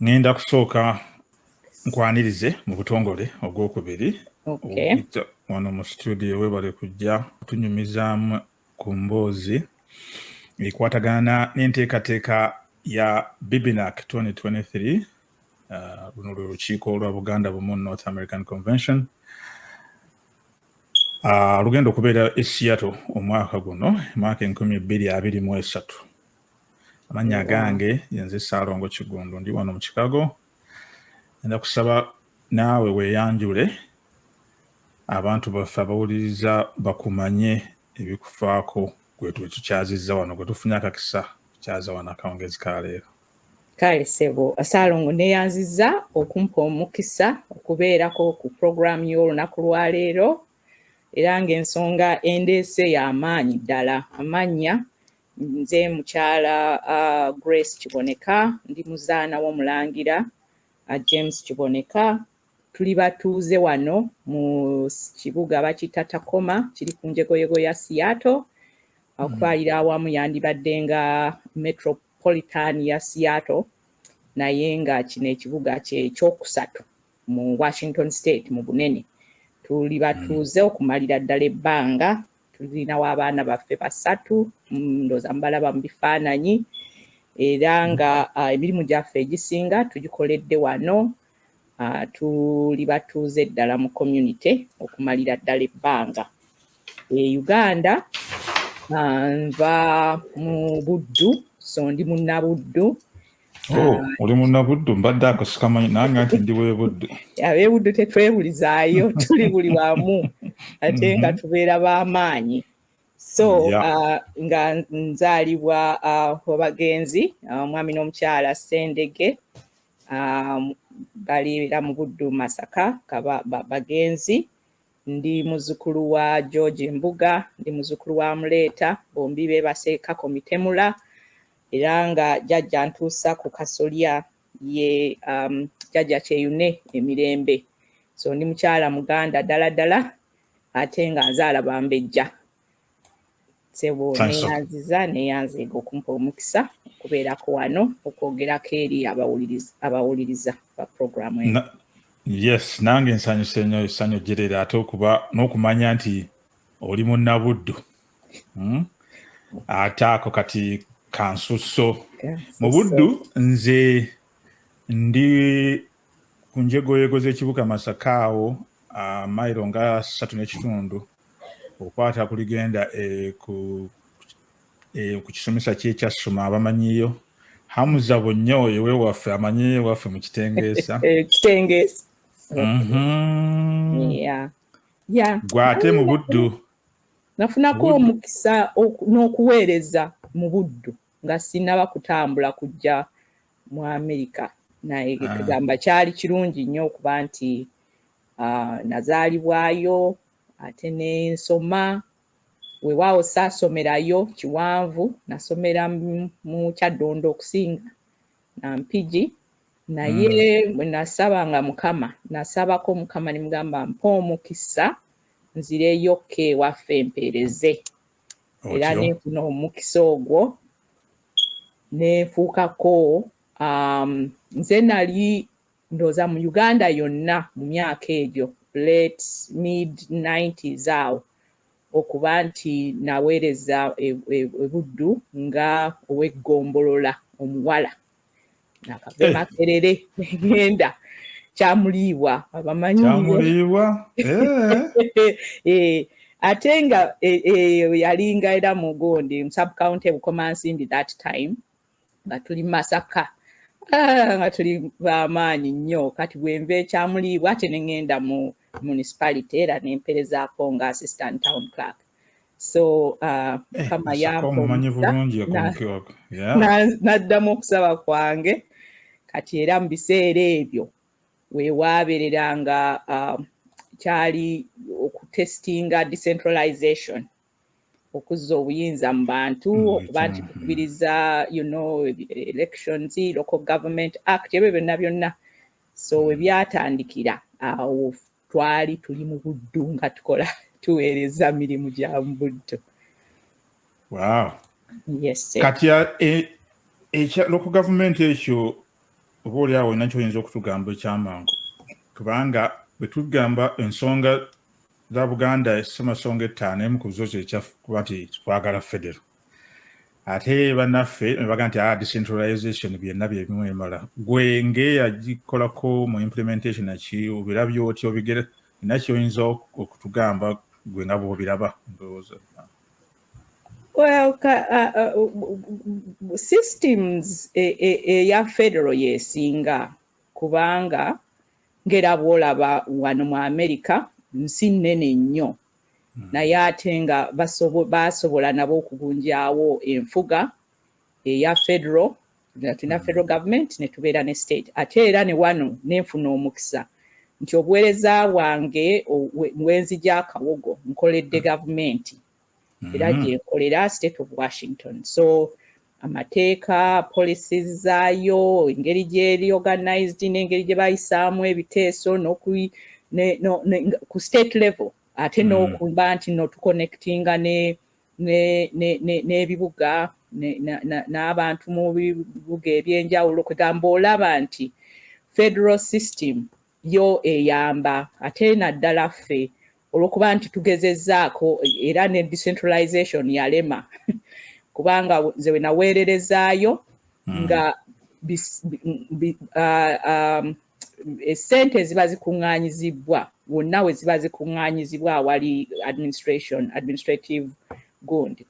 ŋŋenda kusooka nkwanirize mu butongole ogwokubiri wano mu situdiyo webale kujja kutunyumizaamu ku mboozi ekwatagana n'enteekateeka ya bibinac 2023 uh, luno lwe lukiiko olwa buganda bumu north american convention uh, lugenda okubeera e seattle omwaka guno emwaka enkumi bbiri abiri mu esatu amannya agange yenze saalongo kigundu ndi wano mu kikago enda kusaba naawe weeyanjule abantu baffe abawuliriza bakumanye ebikufaako gwe tukyazizza wano gwe tufunye akakisa kukyaza wano akawungezi ka leero kale sebo saalongo neyanziza okumpa omukisa okubeerako ku puroguramu y'olunaku lwaleero era ng'ensonga endeese y'amaanyi ddala amannya Nze mukyala uh, Grace Kiboneka ndi muzaana w'omulangira uh, James Kiboneka tuli batuuze wano mu kibuga bakiyita Takoma kiri ku njegoyego ya Seattle hmm. okutwalira awamu yandibadde nga metropolitan ya Seattle naye nga kino ekibuga kyekyokusatu mu Washington State mu bunene tuli batuuze hmm. okumalira ddala ebbanga tulinawo abaana baffe basatu mm, ndooza mubalaba mu bifaananyi era nga ah, emirimu gyaffe egisinga tugikoledde wano ah, tuli batuuze ddala mu community okumalira ddala ebbanga e uganda ah, nva mu buddu so ndi munnabuddu Oh, oli munnabuddu mbadde ako sikamanyi nange nti ndi webuddu abebuddu tetwebulizaayo tuli buli wamu ate nga mhm. tubeera b'amaanyi so uh, nga nzaalibwa uh, wabagenzi uh, omwami n'omukyala sendege um, baliira mu buddu masaka bagenzi Ndi muzukulu wa George Mbuga, ndi muzukulu wa Muleeta, bombi bebase Kako Mitemula era nga jajja ntuusa ku kasolya ye um, jajja Kyeyune emirembe. So ndi mukyala Muganda dala dala ate nga nzaala bambejja. sebo neyanziza neyanziga okumpa omukisa okubeerako wano okwogerako eri abawuliriza ba programu eno yes nange nsanyuse nyo esanyu jerere ate okuba n'okumanya nti oli munnabuddu hmm? ate ako kati kansusso mu buddu nze ndi ku njegoyego z'ekibuga Masaka awo mayiro nga ssatu n'ekitundu okwata ku ligenda e, e, ku kisomesa ky'ekyassuma abamanyiyo hamuza bonnyo oyo wewaffe amanyi ewaffe mu kitengeesa eh, mhm. gwe ate mu buddu nafunako omukisa n'okuweereza mu buddu nga sinaba kutambula kujja mu amerika naye ah. kugamba kyali kirungi nnyo okuba nti ah, nazaalibwayo ate nensoma wewaawo saasomerayo kiwanvu nasomera mu kyaddondo okusinga nampigi naye mm. nasabanga mukama nasabako mukama nemugamba mpa omukisa nzireyo ka ewaffe mpeereze era nenfuna omukisa ogwo nenfuukako um, nze nali ndooza mu uganda yonna mu myaka egyo late mid 90s awo okuba nti naweereza e, e, ebuddu nga oweggombolola omuwala nakave eh. makerere egenda kyamuliibwa abamanyi kyamuliibwa eh. ate nga yalinga era mugondi sub county bukomansimbi that time nga tuli masaka ah, nga tuli bamaanyi nnyo kati bwenva ekyamuliibwa ate nengenda mu municipality era nemperezaako nga assistant town clerk so uh, eh, kama yamponaddamu okusaba kwange kati era mu biseera ebyo wewaaberera nga uh, kyali okutestinga decentralization okuzza obuyinza mu bantu mm, okuba nti kukubiriza you know elections local government act ebyo byonna byonna so webyatandikira awo uh, twali tuli mu buddu nga tukola tuweereza mirimu gya mu buddu kati ekyaloku e, gavumenti ekyo oba oliawo olina kyoyinza okutugamba ekyamangu kubanga bwetugamba ensonga za buganda esemasonga ettaano emu ku zo zekyaffe kuba nti twagala federo ate banaffe nebaga nti ah, decentralization byonna byebimu emala gwe ngeyagikolako mu implementation ki obirabye otya obigere ina kyoyinza okutugamba gwe nga bwobiraba ndowooza well ka, uh, uh, systems eya e, e, e federal yesinga kubanga ngera bwolaba wano mu america nsi nene nnyo hmm. naye ate nga baasobola nabo okugunjaawo enfuga eya federo nga tulina hmm. federal government ne tubeera ne state ate era ne wano nenfuna omukisa nti obuweereza bwange bwenzi gyakawogo nkoledde hmm. gavumenti era gyenkolera state of washington so amateeka policies zaayo engeri gyeri organized n'engeri gye bayisaamu ebiteeso ku state level ate mm. n'okuba nti no tuconnectinga n'ebibuga n'abantu mu bibuga ebyenjawulo kwegamba olaba nti federal system yo eyamba ate naddala ffe olwokuba nti tugezezzaako era ne decentralization yalema kubanga nze wenaweererezaayo hmm. nga esente um, ziba zikuŋŋaanyizibbwa wonna we ziba zikuŋŋaanyizibwa awali administration administrative gund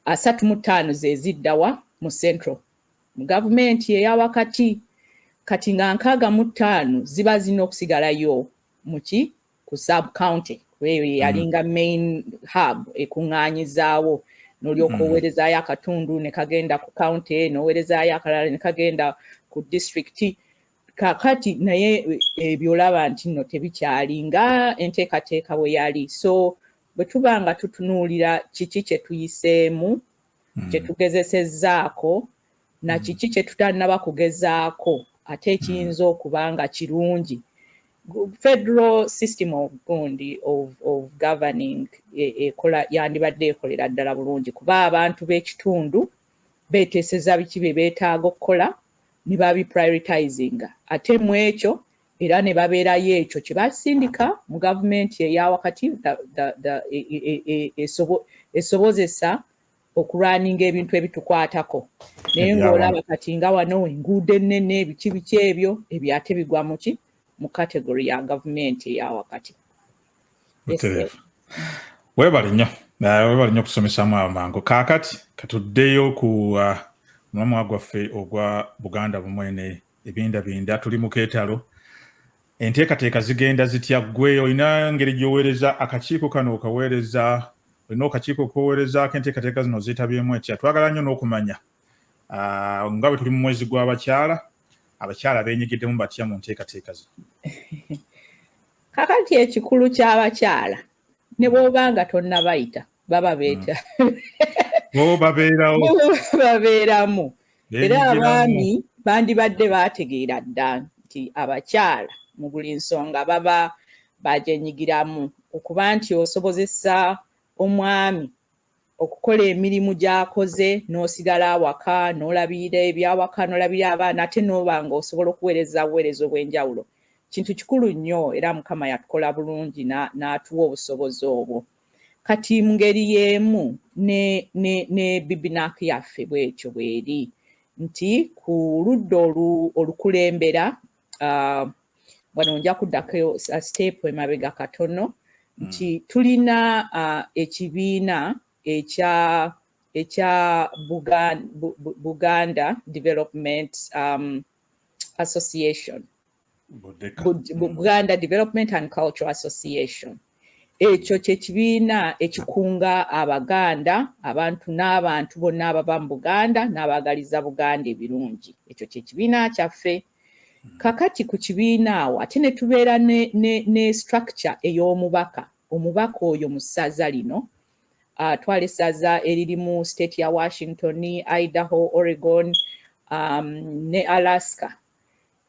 asatu mu ttaano ze ziddawa mu central mu gavumenti eya wakati kati nga nkaaga mu ttaano ziba zirina okusigalayo muki ku sub county eyo yeyalinga mm. main hub ekuŋŋaanyizaawo nolyoka mm. oweerezaayo akatundu ne kagenda ku county noweerezaayo akalala ne kagenda ku district kakati naye eh, ebyo olaba nti no tebikyali nga enteekateeka bwe yali so bwe tuba nga tutunuulira kiki kye tuyiseemu hmm. kye tugezesezzaako na hmm. kiki kye tutannaba kugezaako ate ekiyinza hmm. okuba nga kirungi federal system of gundi of, of governing e, ekola yandibadde ekolera ddala bulungi kuba abantu b'ekitundu beeteeseza biki bye beetaaga okukola ne babi prioritizinga ate mu ekyo era ne babeerayo ekyo kye basindika mu gavumenti eya wakati esobozesa okulwaninga ebintu ebitukwatako naye ng'olaba kati nga wano enguudo ennene ebiki biki ebyo ebyo ate bigwa muki mu kategori ya gavumenti eya wakati webale nnyo webale nnyo okutusomesamu awo mangu kaakati katuddeyo ku uh, mulamwa gwaffe ogwa buganda bumwene ebindabinda tuli mu keetalo enteekateeka zigenda zitya gwe olina ngeri gyoweereza akakiiko kano okaweereza olina okakiiko koweerezaako enteekateeka zino zeetabyemu etya twagala nnyo n'okumanya ah, nga bwe tuli mu mwezi gw'abakyala abakyala benyigiddemu batya mu nteekateeka zino kakati ekikulu ky'abakyala ne bwoba nga tonnabayita baba beeta hmm. babeeramu era abaami bandibadde baategeera dda nti abakyala mu buli nsonga baba bagyenyigiramu okuba nti osobozesa omwami okukola emirimu gy'akoze n'osigala awaka n'olabirira ebyawaka n'olabirira abaana ate n'oba nga osobola okuweereza buweereza obw'enjawulo kintu kikulu nnyo era Mukama yatukola bulungi n'atuwa obusobozi obwo. Kati mu ngeri y'emu ne, ne, ne bibinaaki yaffe bw'etyo bw'eri nti ku ludda olukulembera uh, wano nja kuddako siteepu emabega katono hmm. nti mm. tulina uh, ekibiina ekya ekya Buganda, Buganda Development um, Association Buganda Development and Cultural Association mm. Ekyo kye kibiina ekikunga Abaganda, abantu n'abantu bonna abava mu Buganda n'abaagaliza Buganda ebirungi. Ekyo kye kibiina kyaffe. Kakati ku kibiina awo ate ne tubeera ne, ne, ne structure ey'omubaka. Omubaka oyo mu ssaza lino, uh, twala essaza eririmu state ya Washington, Idaho, Oregon, um, ne Alaska.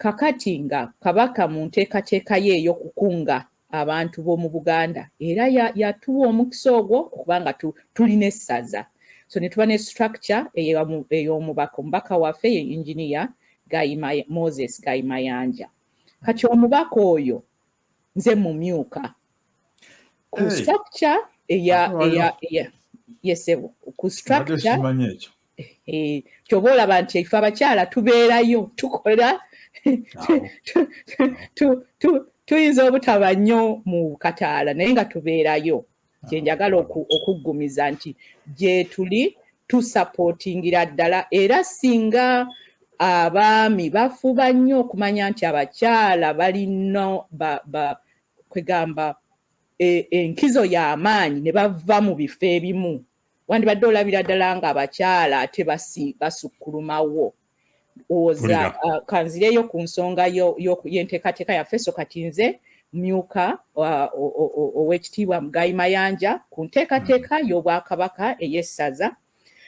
Kakati nga Kabaka mu nteekateeka ye ey'okukunga abantu b'omu Buganda era yatuwa omukisa ogwo okuba nga tulina essaza so ne tuba ne structure ey'omubaka. Omubaka waffe ye Engineer Moses Gayi Mayanja. Kati omubaka oyo nze mumyuka ku structure eya eya eya yesebo ku structure kyoba olaba nti ife abakyala tubeerayo tukola tuyinza obutaba nnyo mu kataala naye nga tubeerayo kyenjagala okuggumiza nti gyetuli tusapotingira ddala era singa abaami bafuba nnyo okumanya nti abakyala balina kwegamba e, enkizo y'amaanyi ne bava mu bifo ebimu wandibadde olabira ddala ng'abakyala ate basukkulumawo owoza uh, kanzireyo ku nsonga y'enteekateeka yaffe so kati nze myuka uh, ow'ekitiibwa mugayi mayanja ku nteekateeka hmm. y'obwakabaka ey'essaza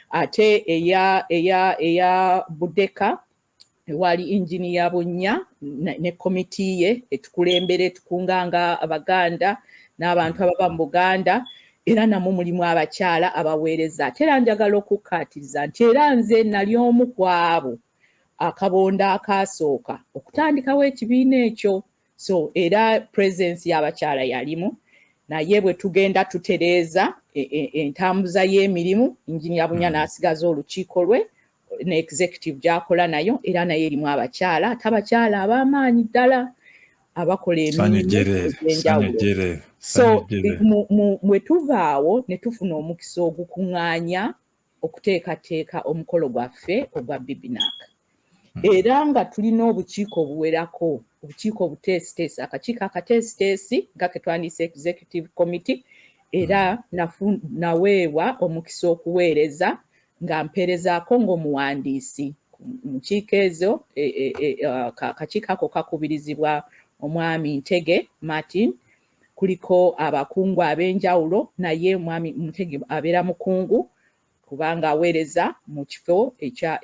ate eya eya eya budeka wali injiniya bunnya ne komiti ye etukulembera etukunganga abaganda n'abantu ababa mu buganda era namwe mulimu abakyala abaweereza ate era njagala okukkaatiriza nti era nze nali omu ku abo akabondo akaasooka okutandikawo ekibiina ekyo so era presence y'abakyala yalimu naye bwe tugenda tutereeza e, e, entambuza y'emirimu injinia bunya mm. n'asigaza olukiiko lwe ne executive gyakola nayo era nayo erimu abakyala ate abakyala ab'amaanyi ddala abakola emirimuenjawulo so bwe tuvaawo ne tufuna omukisa ogukuŋŋaanya okuteekateeka omukolo gwaffe ogwa bibinaaka era nga tulina obukiiko obuwerako obukiiko obuteesiteesi akakiiko akateesiteesi nga ke twandiyise executive committee era naweebwa omukisa okuweereza nga mpeerezaako ng'omuwandiisi mu nkiiko ezo e, e, e, akakiiko ako kakubirizibwa omwami Ntege Martin kuliko abakungu ab'enjawulo naye omwami Ntege abeera mukungu kubanga aweereza mu kifo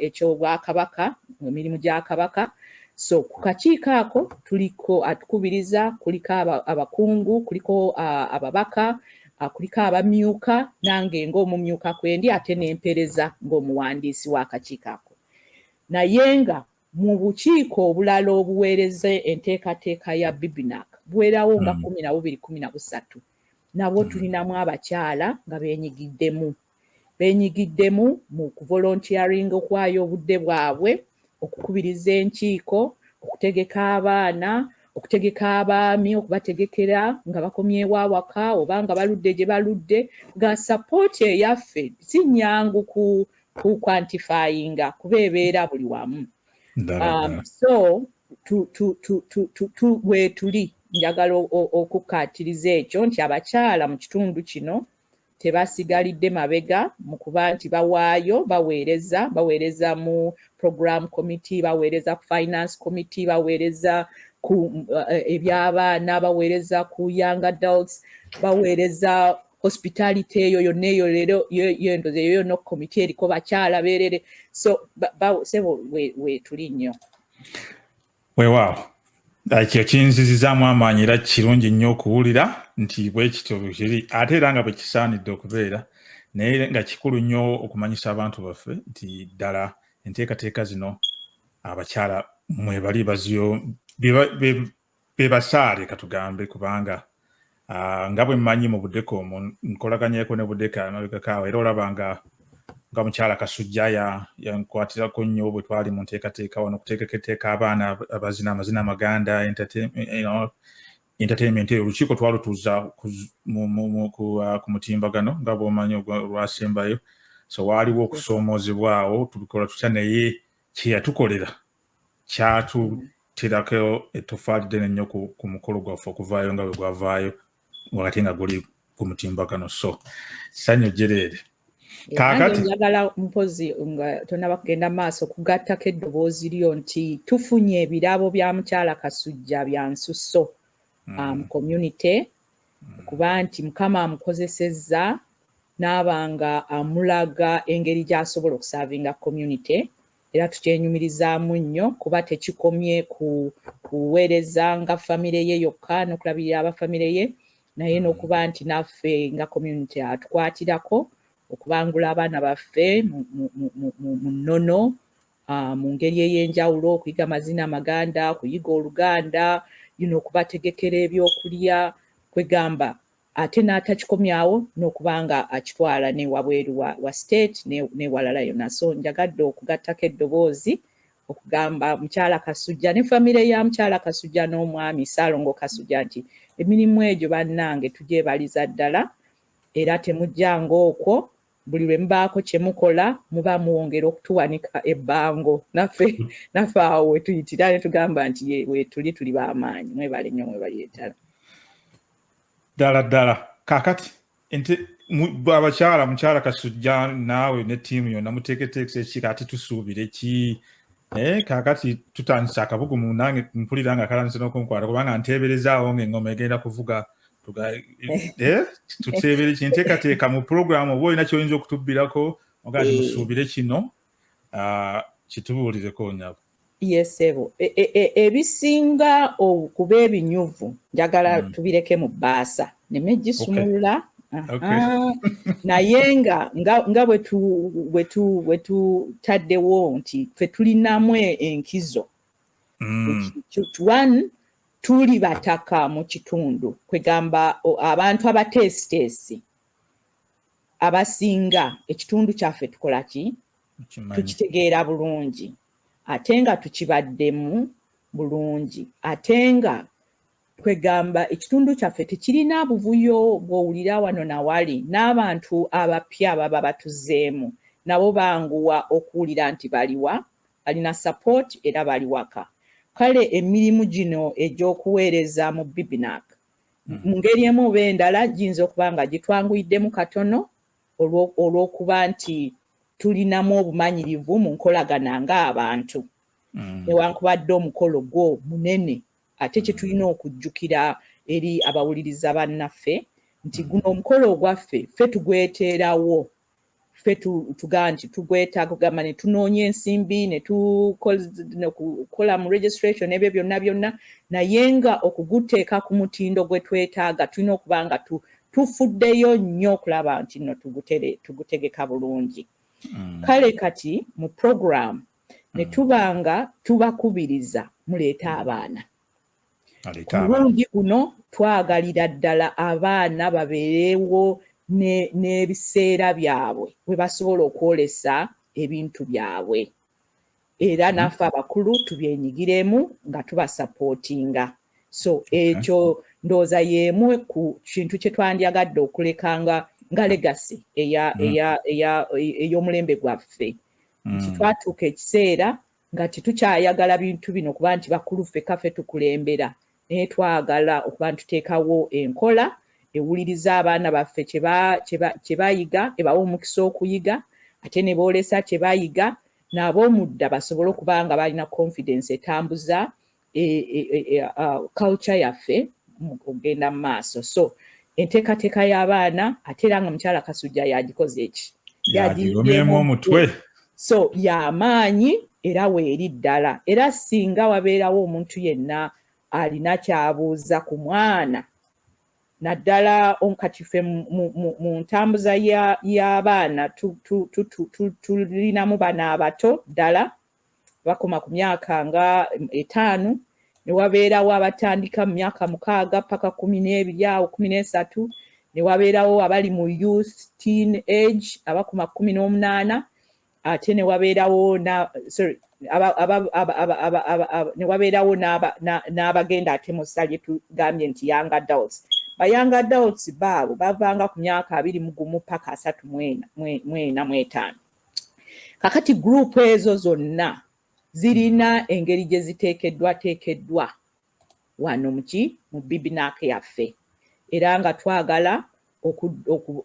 eky'obwakabaka mu mirimu gya kabaka so ku kakiiko ako tuliko atukubiriza kuliko abakungu kuliko ababaka akuliko abamyuka nange ng'omumyuka kwendi ate n'empereza ng'omuwandiisi w'akakiiko ako naye nga mu bukiiko obulala obuweereza enteekateeka ya bibinak buweerawo nga hmm. kumi na bubiri kumi na busatu nabwo hmm. tulinamu abakyala nga benyigiddemu beenyigiddemu mu kuvolontiyaringa, okuwaayo obudde bwabwe, okukubiriza enkiiko, okutegeka abaana, okutegeka abaami, okubategekera nga bakomyewo awaka oba nga baludde gye baludde, nga sapooti eyaffe si nnyangu ku ku kwantifayinga kuba ebeera buli wamu. Um, so bwetuli njagala okukkaatiriza ekyo nti abakyala mu kitundu kino tebasigalidde mabega mu kuba nti bawaayo baweereza baweereza mu program committee baweereza ku finance committee baweereza ku eh, ebyabaana baweereza ku young adults baweereza hospitality eyo yonna eyo leero yendoza eyo yonna okomiti eriko bakyala beerere so sebo wetuli nnyo weewaawo ekyo kinzizizaamu amaanyi era kirungi nnyo okuwulira nti bwekityo bwekiri ate era nga bwekisaanidde okubeera naye nga kikulu nnyo okumanyisa abantu baffe nti ddala enteekateeka zino abakyala mwebali baziyo bebasaale katugambe kubanga Ah, nga bwe mmanyi mu budeka omu nkolaganyeko ne budeka emabegakaawo era olaba nga nga mukyala kasujja yankwatirako nnyo bwe twali mu nteekateeka wano okuteekako etteeka abaana abazina amazina amaganda entertainment eyo olukiiko twalutuuza ah, ku mutimbagano nga bwomanyi olwasembayo so waaliwo okusoomoozebwawo tubikola tutya naye kyeyatukolera kyatutirako ettofaali ddene nnyo ku mukolo gwaffe okuvaayo nga bwe gwavaayo wakati nga guli ku mutimbagano so sanyu jereere kakati njagala mpozi nga tonaba kugenda maaso kugattako eddoboozi lyo nti tufunye ebirabo bya mukyala kasujja bya nsusso mm. um, community mm. kuba nti mukama amukozesezza n'abanga amulaga engeri gy'asobola okusaavinga community era tukyenyumirizaamu nnyo kuba tekikomye ku kuweereza nga famire ye yokka n'okulabirira aba famire ye naye mm. n'okuba nti naffe nga community atukwatirako okubangula abaana baffe mu nnono ah, mu ngeri ey'enjawulo okuyiga amazina amaganda okuyiga oluganda yino okubategekera ebyokulya kwegamba ate n'atakikomya awo n'okuba nga akitwala ne wabweru wa, wa state newalala yona so njagadde okugattako eddoboozi okugamba mukyala kasujja ne famire ya mukyala kasujja n'omwami saalongo kasujja nti emirimu egyo bannange tugyebaliza ddala era temujjanga okwo buli lwe mubaako kye mukola muba muwongera okutuwanika ebbango naffe naffe awo wetuyitira ne tugamba nti wetuli tuli b'amaanyi mwebale nnyo mwebalyetala ddala ddala kakati nti abakyala mukyala kasujja naawe ne tiimu yonna muteeketeekesa ekika ati tusuubire ki naye eh, kakati tutandise akabugumu nange mpulira nga kalandise nokunkwata kubanga nteeberezaawo nga engoma egenda kuvuga eh, tuteebere kinteekateeka mu pulogulaamu oba olina kyoyinza okutubbirako ogaa eh. musuubire kino ah, kitubuulireko nyabo yesebo e, e, e, ebisinga okuba ebinyuvu njagala mm. tubireke mu bbaasa nemegisumulula okay. Okay. Ah, naye nga nga bwetutaddewo nti fe tulinamu enkizo mm. one tuli bataka mu kitundu kwegamba abantu abateesiteesi abasinga ekitundu kyaffe tukola ki tukitegeera bulungi ate nga tukibaddemu bulungi ate nga kwegamba ekitundu kyaffe tekirina buvuyo bwowulira wano nawali n'abantu abapya baba batuzeemu nabo banguwa okuwulira nti baliwa balina support era bali waka kale emirimu gino egy'okuweereza mu bibinak hmm. mu ngeri emu oba endala giyinza okuba nga gitwanguyiddemu katono olw'okuba nti tulinamu obumanyirivu mu nkolagana ng'abantu hmm. newankubadde omukolo gwo munene ate hmm. kyetulina okujjukira eri abawuliriza bannaffe nti guno omukolo ogwaffe ffe tugweteerawo ffe tugaa nti tugwetaaga kugamba ne tunoonya ensimbi ne tukola mu registration ebyo byonna byonna naye nga okuguteeka ku mutindo gwe twetaaga tulina okuba nga tufuddeyo nnyo okulaba nti no tugutegeka bulungi mm. kale kati mu program ne mm. tuba nga tubakubiriza muleete abaana kulungi kuno twagalira ddala abaana babeerewo n'ebiseera byabwe we basobola okwolesa ebintu byabwe era mhm. naffe abakulu tubyenyigiremu nga tubasapootinga so ekyo ndowooza y'emu ku kintu kye twandyagadde okuleka nga nga legasi mhm. ey'omulembe gwaffe nti mhm. twatuuka ekiseera nga tetukyayagala bintu bino kuba nti bakulu ffe kafe tukulembera naye twagala okuba ntuteekawo enkola ewuliriza abaana baffe kye bayiga ebawa omukisa okuyiga ate ne boolesa kye bayiga n'ab'omudda basobole okuba nga balina confidence etambuza e, e, e, e, uh, culture yaffe okugenda mu maaso so enteekateeka y'abaana ate era nga mukyala kasujja yagikoze eki yagigomyemu omutwe so yamaanyi era weeri ddala era singa wabeerawo omuntu yenna alina kyabuuza ku mwana naddala kati ffe mu ntambuza y'abaana tulinamu bana abato ddala bakoma ku myaka nga etaano ne wabeerawo abatandika mu myaka mukaaga paka kumi n'ebiri awo kumi n'esatu ne wabeerawo abali mu youth teen age abakoma kumi n'omunaana ate ne wabeerawo sorry ne wabeerawo n'abagenda ate mu ssa lye tugambye nti young adults ba young adults baabo bavanga ku myaka abiri mu gumu paka asatu mwena mwetaano kakati guruupu ezo zonna zirina engeri gye ziteekeddwateekeddwa wano muki mu bibinaaka yaffe era nga twagala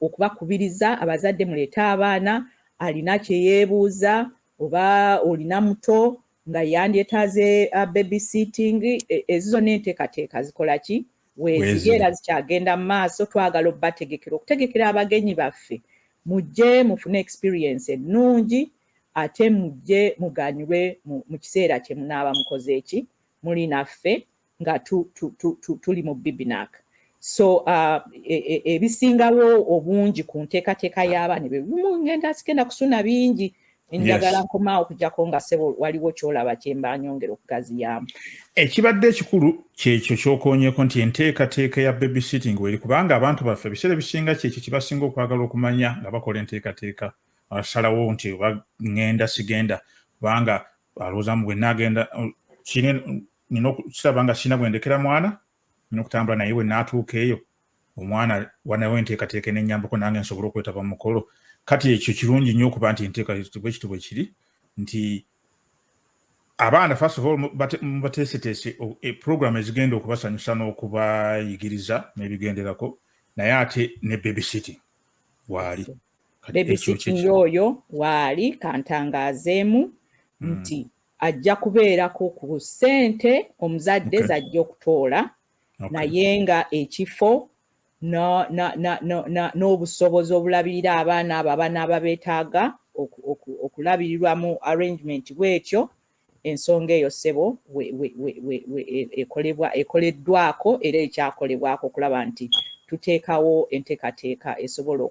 okubakubiriza abazadde muleete abaana alina kye yeebuuza oba olina muto nga yandyetaaze uh, baby sitting e, ezo zonna enteekateeka zikola ki weeziri era zikyagenda mu maaso twagala obategekera okutegekera abagenyi baffe mujje mufune experience ennungi ate mujje muganyulwe mu kiseera kye munaaba mukoze eki muli naffe nga tu, tu, tu, tu, tuli mu bibinak so uh, e, e, ebisingawo e, e, obungi ku nteekateeka y'abaana ebyo bimu ngenda sigenda kusuna bingi njagala nkomaawo okujjako nga sebo waliwo kyolaba kyemba nyongera okugaziyaamu ekibadde ekikulu kyekyo kyokonyeko nti enteekateeka ya baby sitting weri kubanga abantu baffe ebiseera ebisinga kyekyo kyebasinga okwagala okumanya nga bakola enteekateeka asalawo nti oba ngenda sigenda kubanga alowoozamu bwenagenda nina okukiraba nga kirina bwendekera mwana nina okutambula naye bwe naatuuka eyo omwana wanawo enteekateeka enenyambako nange nsobole okwetaba mumukolo kati ekyo kirungi nnyo okuba nti enteeka bwekiti bwe kiri nti abaana first of all mubateeseteese e, program ezigenda okubasanyusa n'okubayigiriza n'ebigenderako naye ate ne baby city waali baby city oyo waali kantangaazeemu hmm. nti ajja kubeerako ku ssente omuzadde okay. zajja okutoola okay. naye nga ekifo n'obusobozi obulabirira abaana abo abanaaba beetaaga okulabirirwa mu arrangement bwetyo ensonga eyo ssebo ekolebwa ekoleddwako era ekyakolebwako okulaba nti tuteekawo enteekateeka esobola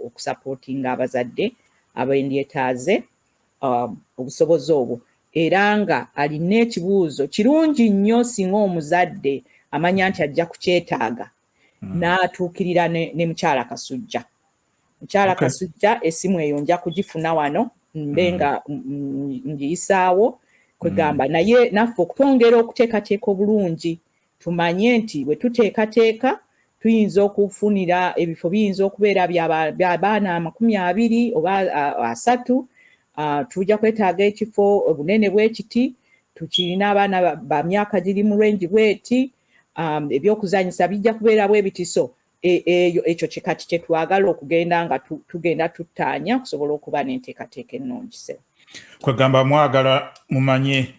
okusapootinga abazadde abendyetaaze um, obusobozi obwo era nga alina ekibuuzo kirungi nnyo singa omuzadde amanya nti ajja kukyetaaga hmm. n'atuukirira ne mukyala kasujja mukyala kasujja esimu eyo nja kugifuna wano mbe hmm. nga ngiyisaawo kwegamba hmm. naye naffe okutwongera okuteekateeka obulungi Tumanye nti bwe tuteekateeka tuyinza okufunira ebifo biyinza okubeera bya baana amakumi abiri oba asatu, tujja kwetaaga ekifo obunene bwe kiti, tukirina abaana ba myaka giri mu lwengi bweti, ebyokuzanyisa bijja kubeera bwe biti so e, eyo ekyo kikati kye twagala okugenda nga tugenda tuttaanya okusobola okuba n'enteekateeka ennungi. Kwegamba mwagala mumanye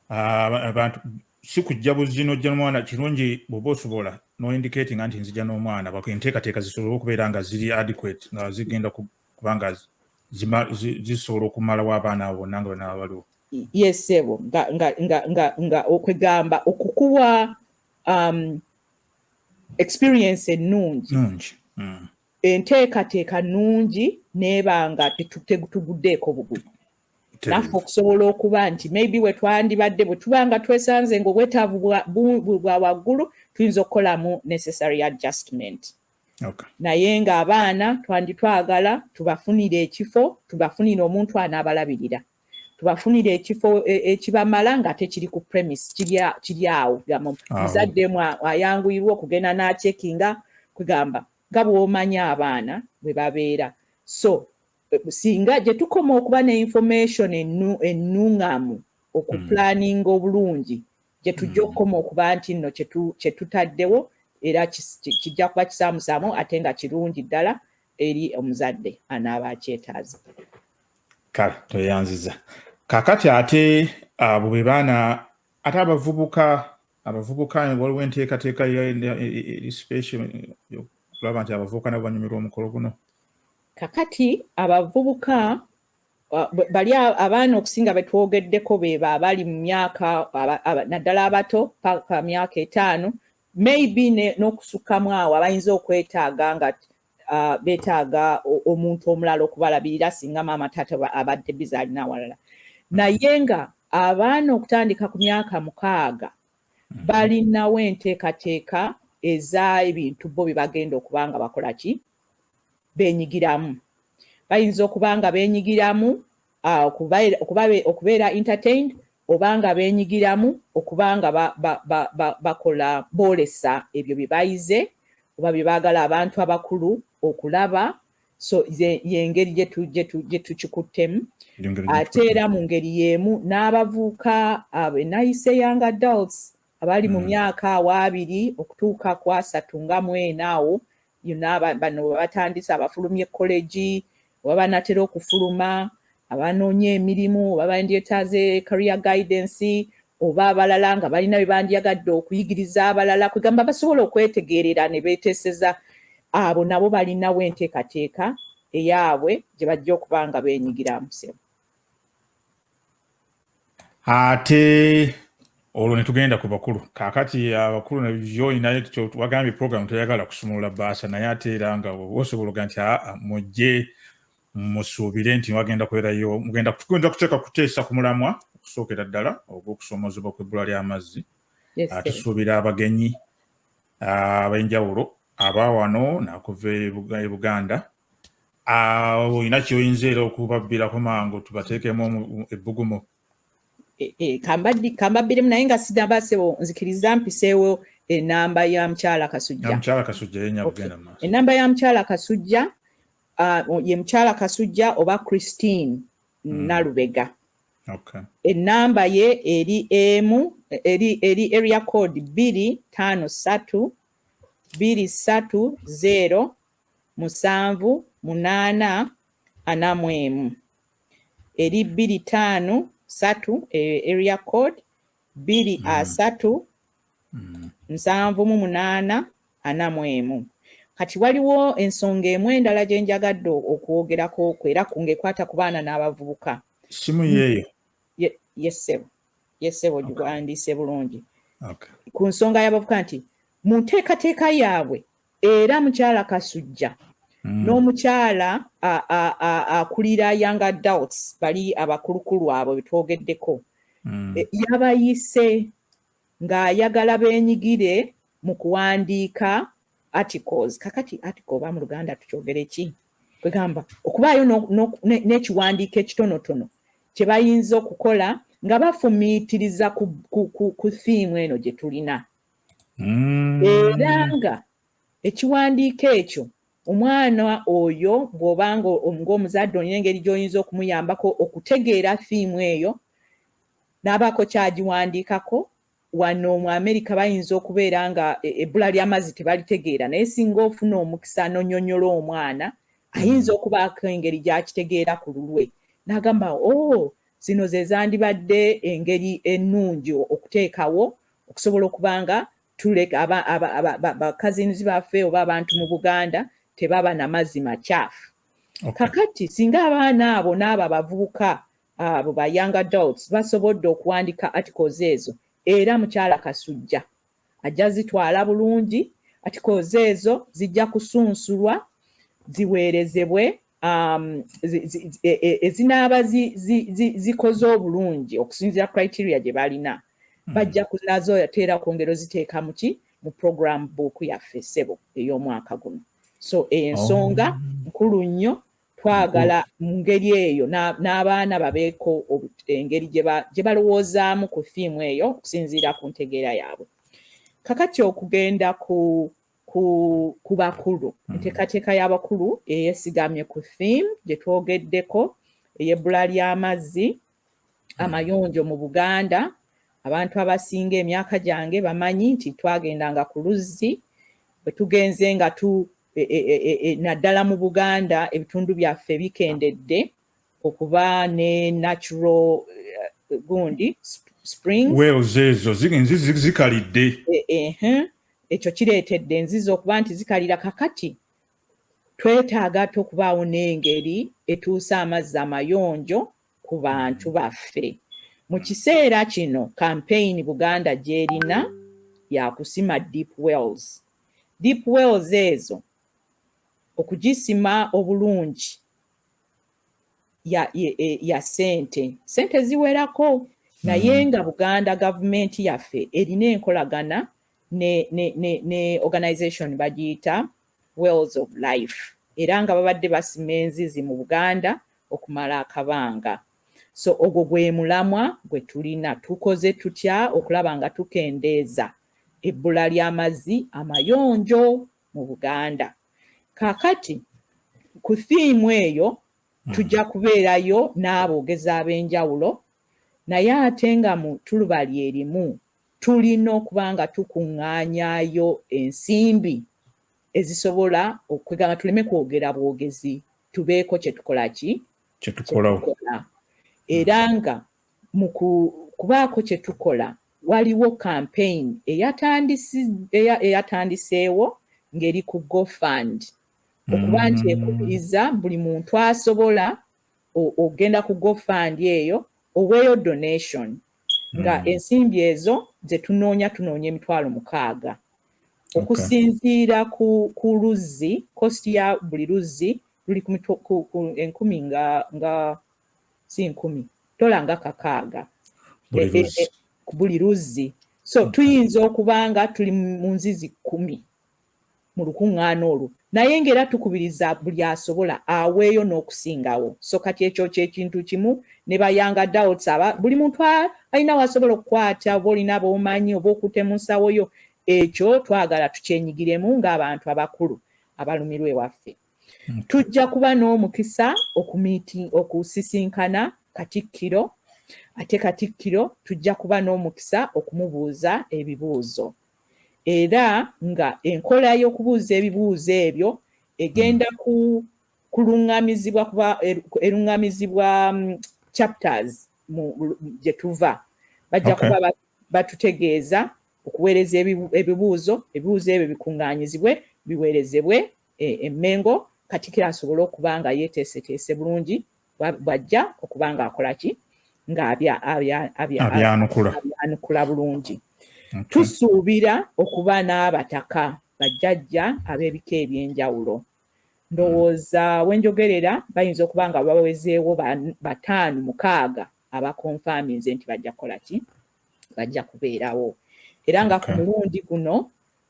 abantu si kujja buzzi nojja nomwana kirungi bwoba osobola noindicati nga nti nzija n'omwana enteekateeka zisobole okubeera nga ziri adequate nga zigenda kubanga zisobola okumalawo abaana abo bonna nga banaba baliwo yesebo nga okwegamba okukuwa um, experience ennungi mm. enteekateeka nungi neebanga tetuguddeeko bugulu naffe okusobola okuba nti maybe wetwandibadde bwe tuba nga twesanze nga obwetaavu bwa waggulu tuyinza okukolamu necessary adjustment okay. naye ng'abaana twanditwagala tubafunire ekifo tubafunire omuntu anaabalabirira tubafunire ekifo e, ekibamala nga tekiri ku premise kiri awo gamba muzadde mu ayanguyirwa okugenda n'acekinga kugamba nga bw'omanya abaana bwe babeera so singa gye tukoma okuba ne information ennung'amu okupulaninga hmm. obulungi gye tujja hmm. okukoma okuba nti nno kye tutaddewo era kijja kuba kisaamusaamu ate nga kirungi ddala eri omuzadde anaaba akyetaaza kale tweyanziza kakati ate abo be baana ate abavubuka abavubuka waliwo enteekateeka eri special okulaba nti abavubuka nabo banyumirwa omukolo guno Kakati abavubuka bali abaana okusinga betwogeddeko beba abali mu myaka naddala abato paka myaka etaano maybe n'okusukkamu awo abayinza okwetaaga nga uh, betaaga omuntu omulala okubalabirira singa maama taata abadde biza alina awalala naye nga abaana okutandika ku myaka mukaaga mm-hmm. balinawo enteekateeka eza ebintu bo bye bagenda okuba nga bakola ki benyigiramu bayinza okuba nga benyigiramu ah, okubeera entertained oba nga benyigiramu okuba nga bakola boolesa ebyo bye bayize oba bye baagala abantu abakulu okulaba so yengeri gye tukikuttemu ate era mu ngeri y'emu n'abavuuka ah, enayise young adults abali mu myaka awaabiri okutuuka ku asatu nga mu ena awo yonna bano batandise abafulumye kkolegi oba banatera okufuluma abanoonya emirimu oba bandyetaaze career guidance oba abalala nga balina bye bandyagadde okuyigiriza abalala kwegamba basobola okwetegeerera ne beeteeseza abo nabo balinawo enteekateeka eyaabwe gye bajja okuba nga beenyigiramu sebo ate olwo netugenda ku bakulu kakati abakulu nabyolinaye wagambye program teyagala kusumulula baasa naye ate era nga osobola oga nti aa mujje musuubire nti wagenda kubeerayo mugenda kugenda kuteeka kuteesa ku mulamwa okusookera ddala ogwokusoomozebwa kwebbula ly'amazzi tusuubira abagenyi abenjawulo aba wano nakuva e buganda Ah, olina kyoyinza era okubabbirako mangu tubateekemu ebbugumu e, e, kambabbiremu naye nga sidabasebo nzikiriza mpiseewo enamba ya mukyala kasujjaenamba ya mukyala kasujja ah, ye mukyala kasujja oba christine hmm. nalubega enamba ye eri emu eri area code bbiri tano satu bbiri satu zero musanvu munaana ana mu emu eri bbiri taano satu eyo area code bbiri mm. asatu mm. nsanvu mu munaana ana mu emu kati waliwo ensonga emu endala gye njagadde okwogerako okwo era ku ngaekwata ku baana n'abavubuka simu yeeyo yesebo yesebo giwandiise bulungi ku nsonga y'abavuka nti mu nteekateeka yaabwe Era mukyala Kasujja mm. n'omukyala akulira young adults bali abakulukulu abo betwogeddeko mm. E, yabayise ng'ayagala benyigire mu kuwandiika articles kakati article oba mu luganda tukyogere ki kwegamba okubaayo n'ekiwandiiko ekitonotono kye bayinza okukola nga bafumiitiriza ku thiimu eno gye tulina mm. era nga ekiwandiiko ekyo omwana oyo bw'oba ng'omuzadde olina engeri gy'oyinza okumuyambako okutegeera fiimu eyo n'abaako kyagiwandiikako wano mu amerika bayinza okubeera nga e, ebbula ly'amazzi tebalitegeera naye singa ofuna omukisa nonyonyola omwana ayinza okubaako engeri gy'akitegeera ku lulwe n'agamba o oh, zino ze zandibadde engeri ennungi okuteekawo okusobola okuba nga tuleka bakazinzi baffe oba abantu mu buganda tebaba na mazzi makyafu kakati singa abaana abo n'abo abavubuka abo ba young adults basobodde okuwandika articles ezo era mukyala kasujja ajja zitwala bulungi articles ezo zijja kusunsulwa ziweerezebwe um, e, e, ezinaaba zikoze obulungi okusinzira criteria gye balina hmm. bajja kulazo yateera kwongera oziteeka muki mu program book yaffe sebo ey'omwaka guno so ensonga oh. nkulu nnyo twagala mu ngeri eyo n'abaana babeeko engeri gye balowoozaamu ku fiimu eyo okusinziira ku ntegeera yaabwe kakati okugenda ku ku ku bakulu mm. enteekateeka y'abakulu eyesigamye ku theme gye twogeddeko ey'ebbula ly'amazzi mm. amayonjo mu buganda abantu abasinga emyaka gyange bamanyi nti twagendanga ku luzzi bwe tugenze nga tu e, e, e, naddala mu buganda ebitundu byaffe bikendedde okuba ne natural uh, gundi springs wells ezo zikalidde e, e, ekyo kireetedde enzizi okuba nti zikalira kakati twetaaga ate okubaawo n'engeri etuusa amazzi amayonjo ku bantu baffe mu kiseera kino kampeyini buganda gy'erina yakusima deep wells deep wells ezo okugisima obulungi ya, ya, e, ya sente sente ziwerako naye mm-hmm. nga buganda gavumenti yaffe erina enkolagana ne, ne, ne, ne organization bagiyita wells of life era nga babadde basima enzizi mu buganda okumala akabanga so ogwo gwe mulamwa gwe tulina tukoze tutya okulaba nga tukendeeza ebbula ly'amazzi amayonjo mu buganda kakati ku thiimu eyo hmm. tujja kubeerayo n'aboogezi ab'enjawulo naye ate nga mu tuluba lyerimu tulina okuba nga tukuŋŋaanyayo ensimbi ezisobola okwegamba tuleme kwogera bwogezi tubeeko kye tukola ki kyetukola era nga mu kubaako kye tukola Waliwo kampeyini eyatandiseewo ng'eri ku GoFund okuba nti mm. ekubiriza buli muntu asobola okugenda ku GoFund eyo oweeyo donation nga mm. ensimbi ezo ze tunoonya tunoonya emitwalo mukaaga okusinziira ku luzzi kosti ya buli luzzi luli enkumi nga si nkumi tola nga kakaaga buli luzzi so mm-hmm. tuyinza okubanga tuli mu nzizi kumi mu lukuŋŋaana olwo naye ng'era tukubiriza buli asobola aweeyo n'okusingawo so kati ekyo kyekintu kimu ne bayanga doubts aba buli muntu alina wasobola okukwata oba olina boomanyi oba okutemusawoyo ekyo twagala tukyenyigiremu ng'abantu abakulu abalumirwa ewaffe mm. tujja kuba n'omukisa okusisinkana katikkiro ate katikkiro tujja kuba n'omukisa okumubuuza ebibuuzo era nga enkola y'okubuuza ebibuuzo ebyo egenda mm. ku kulungamizibwa kuba er, erungamizibwa mm, chapters gye tuva bajja kuba batutegeeza okuweereza ebibuuzo ebibuuzo ebyo bikuŋŋaanyizibwe biweerezebwe e, e Mengo katikiro asobole okuba nga yeteeseteese bulungi bwajja okuba nga akola ki nga abyanukula bulungi tusuubira okuba n'abataka bajjajja ab'ebika eby'enjawulo ndowooza wenjogerera bayinza okuba nga bawezeewo bataano mukaaga abakonfaminze nti bajja kukola ki bajja kubeerawo era nga ku mulundi guno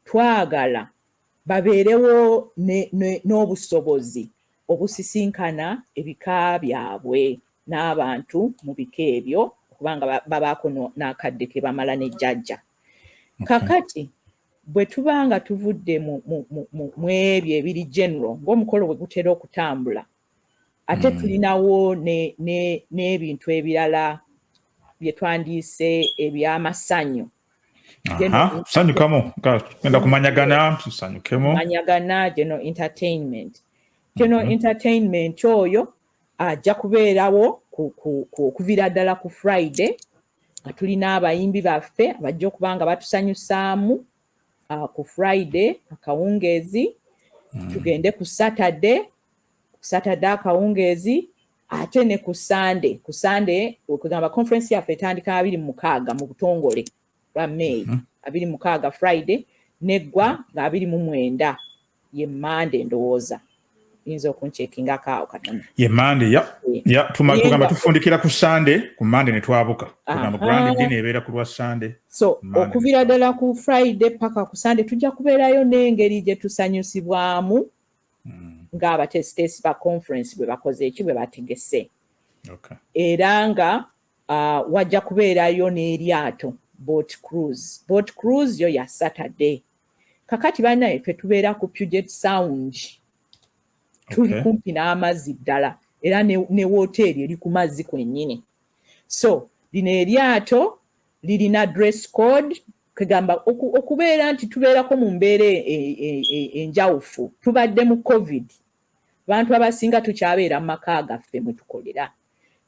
twagala babeerewo n'obusobozi obusisinkana ebika byabwe n'abantu mu bika ebyo okuba nga babaako n'akadde ke bamala ne jjajja kakati bwe tuba nga tuvudde mu ebyo ebiri general ng'omukolo bwe gutera okutambula ate hmm. tulinawo n'ebintu ebirala bye twandiise eby'amasanyu sanyukamu genda kumanyagana tusanyukemu manyagana geno entertainment geno mhm. entertainment oyo ajja kubeerawo okuviira ddala ku friday nga tulina abayimbi baffe abajja okuba nga batusanyusaamu ah, ku friday akawungeezi mhm. tugende ku saturday ku saturday akawungeezi ate ne ku sande ku sande okugamba conference yaffe etandika abiri mu mukaaga mu butongole lwa may mhm. abiri mu mukaaga friday neggwa nga abiri mu mwenda ye mande ndowooza yinza okuncekinga kaawo katono ye mande ya eh. ya tugamba tufundikira ku sande ku mande ne twabuka kugamba grand dina ebeera ku lwa sande so okuvira ddala ku friday paka ku sande tujja kubeerayo n'engeri gye tusanyusibwamu mm. ng'abateesiteesi ba conference bwe bakoze eki bwe bategese okay. era nga uh, wajja kubeerayo n'eryato boat cruise boat cruise yo ya saturday kakati banaye fe tubeera ku puget sound tuli okay. kumpi n'amazzi ddala era ne, ne woteeri eri ku mazzi kwennyini so lino eryato lirina dress code kwegamba okubeera nti tubeerako mu mbeera e, e, e, enjawufu tubadde mu covid abantu abasinga tukyabeera mu maka gaffe mwe tukolera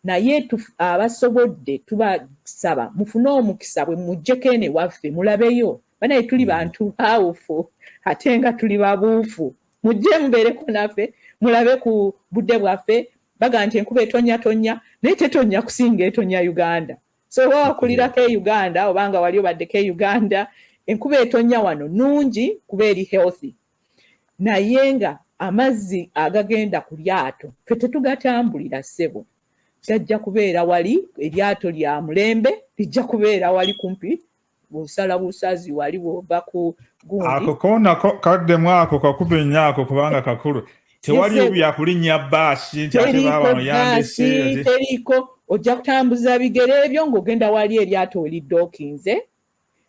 naye abasobodde tubasaba mufune omukisa bwe mujjeko eno ewaffe mulabeyo banaye tuli mm. bantu bawufu ate nga tuli babuufu mujje mubeereko naffe mulabe ku budde bwaffe baga nti enkuba etonnya tonnya naye tetonnya kusinga etonya uganda so oba wakulirako e uganda oba nga wali obaddeko e uganda enkuba etonya wano nungi kuba eri healthy naye nga amazzi agagenda ku lyato fe tetugatambulira ssebo gajja kubeera wali eryato lya mulembe lijja kubeera wali kumpi bwosala busazi wali bwova ku gundi ako kona kaddemu ako kakuba ennyo ako kubanga kakulu tewali byakulinnya baasi nti ate baaba muyambese teriiko ojja kutambuza bigere ebyo ng'ogenda wali eryato olidde okinze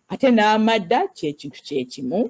ate n'amadda kyekintu kyekimu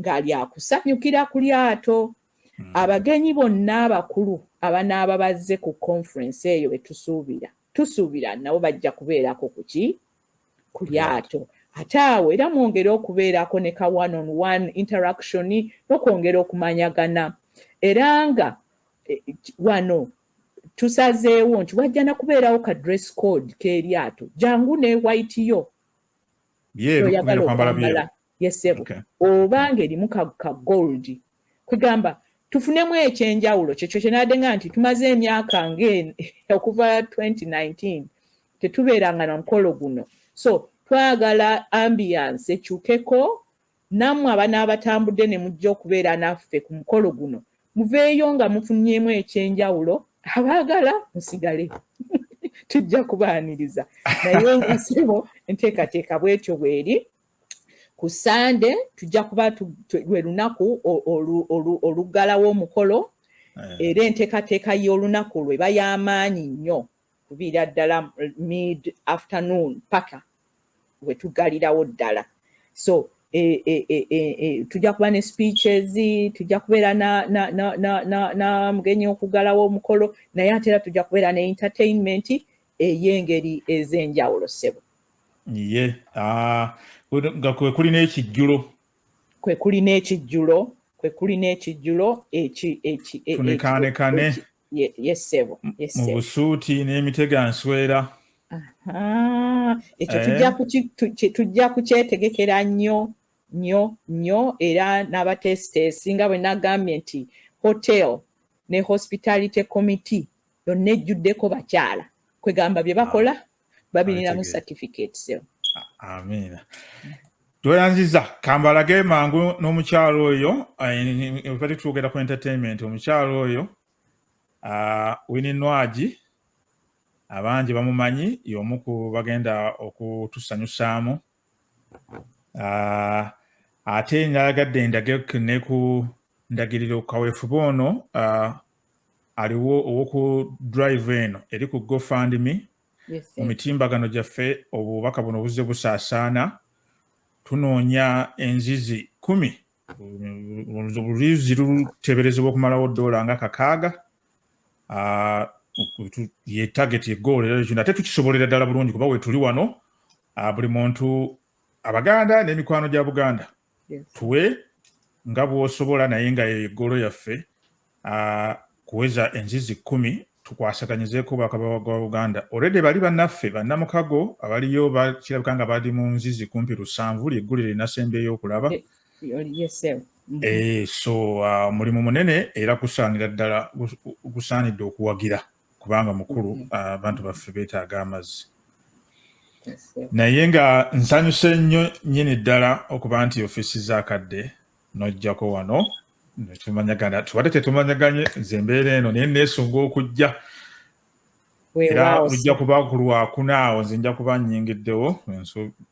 ng'ali akusanyukira ku lyato hmm. abagenyi bonna abakulu abanaaba bazze ku conference eyo betusuubira tusuubira nabo bajja kubeerako kuki ku lyato ate awo era mwongere okubeerako ne ka one on one interaction n'okwongera okumanyagana era nga e, e, wano tusazeewo nti wajja na kubeerawo ka dress code k'eryato jangu ne white yo byeru kwambala byeru yesebo okay. oba ngerimu ka, ka gold kwegamba tufunemu ekyenjawulo kyekyo kyenade nga nti tumaze emyaka nga okuva 2019 tetubeeranga na mukolo guno so twagala ambiance ekyukeko nammwe abana abatambudde ne mujja okubeera naffe ku mukolo guno muveeyo nga mufunyemu ekyenjawulo abaagala musigale tujja kubaaniriza naye nsibo enteekateeka bwetyo bweri ku sande tujja kuba lwe lunaku oluggalawo omukolo eh. era enteekateeka y'olunaku lwe bay'amaanyi nnyo kuviira ddala mid afternoon paka we tuggalirawo ddala so eh, eh, tujja kuba ne speeches tujja kubeera na mugenyi okuggalawo omukolo naye ate era tujja kubeera ne entertainment ey'engeri ez'enjawulo ssebo ye ah, nga kwe kuli n'ekijjulo kwe kuli n'ekijjulo kwe kuli n'ekijjulo ekitunekaanekane yesebo mu busuuti n'emitego answera ekyo eh. tujja kukyetegekera nnyo nnyo nnyo era n'abateesiteesi nga bwe nagambye nti hotel ne hospitality committee yonna ejjuddeko bakyala kwegamba bye bakola ah. babirinamu certificates amiina tweyanziza kambalage mangu n'omukyalo oyo ebali twogera ku entertainment omukyalo oyo ah, wini nwagi abangi bamumanyi y'omu ku bagenda okutusanyusaamu Ah, ate nayagadde ndage ne ku ndagiriro kaweefube ono ah, aliwo ow'oku drive eno eri ku gofundme mu mitimbagano gyaffe obubaka buno buzze busaasaana tunoonya enzizi kumi oluyuzi luteberezebwa okumalawo doola nga kakaaga ah, ye target egoolo era kino ate tukisobolera ddala bulungi kuba wetuli wano ah, buli muntu abaganda n'emikwano gya buganda tuwe nga bwosobola naye nga egoolo yaffe uh, kuweza enzizi kumi tukwasaganyizeeko obwakabaka bwa buganda olwedde bali bannaffe bannamukago abaliyo kirabika nga bali mu nzizi kumpi lusanvu lyeggulire linasemba ey'okulaba eh, mm-hmm. eh, so uh, mulimu munene era kusaanira ddala gusaanidde okuwagira kubanga mukulu mm-hmm. uh, abantu baffe beetaaga amazzi naye nga nsanyuse nnyo nyini ddala okuba nti ofiisi zakadde nojjako wano tumanyagana tubadde tetumanyaganye nze embeera eno naye neesunga okujja era ojja kuba ku lwakuna awo nze nja kuba nyingiddewo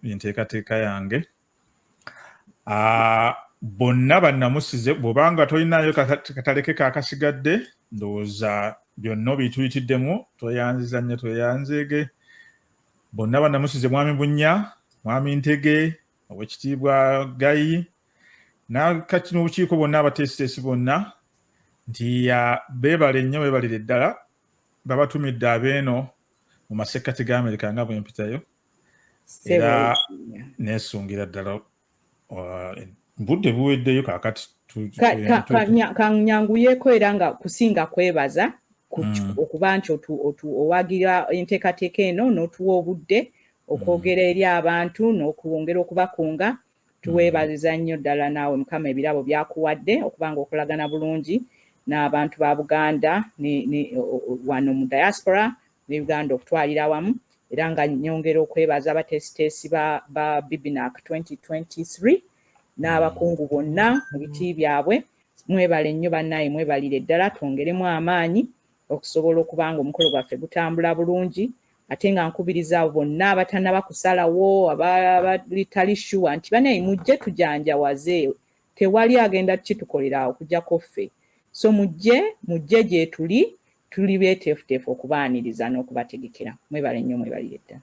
enteekateeka yange ah, bonna bannamusize bwobanga tolinayo kataleke kakasigadde ndowooza byonna obituyitiddemu tweyanziza nnyo tweyanzeege bonna bannamusize mwami bunya mwami ntege owekitiibwa gayi nakati n'obukiiko bonna abateesiteesi bonna nti beebale nnyo beebalire ddala babatumidde abeeno mu masekkati ga amerika nga bwempitayo era nesungira ddala uh, budde buweddeyo kakati kanyanguyeko era nga kusinga kwebaza mm. okuba nti owagira enteekateeka eno n'otuwa obudde okwogera eri abantu n'okwongera okubakunga tuweebaliza nnyo ddala naawe mukama ebirabo byakuwadde okuba nga okolagana bulungi n'abantu ba buganda wano mu diaspora ne uganda okutwalira awamu era nga nyongera okwebaza abateesiteesi ba, ba bibinac 2023 n'abakungu bonna mu biti byabwe mwebale nnyo bannaaye mwebalire ddala twongeremu amaanyi okusobola okuba nga omukolo gwaffe gutambula bulungi ate nga nkubiriza abo bonna abatanaba kusalawo abalitali shuwa nti banaye mujje tujanjawaze tewali agenda kukitukolera okujako ffe so mujje mujje gyetuli tuli beteefuteefu okubaaniriza n'okubategekera mwebale nnyo mwebalire ddala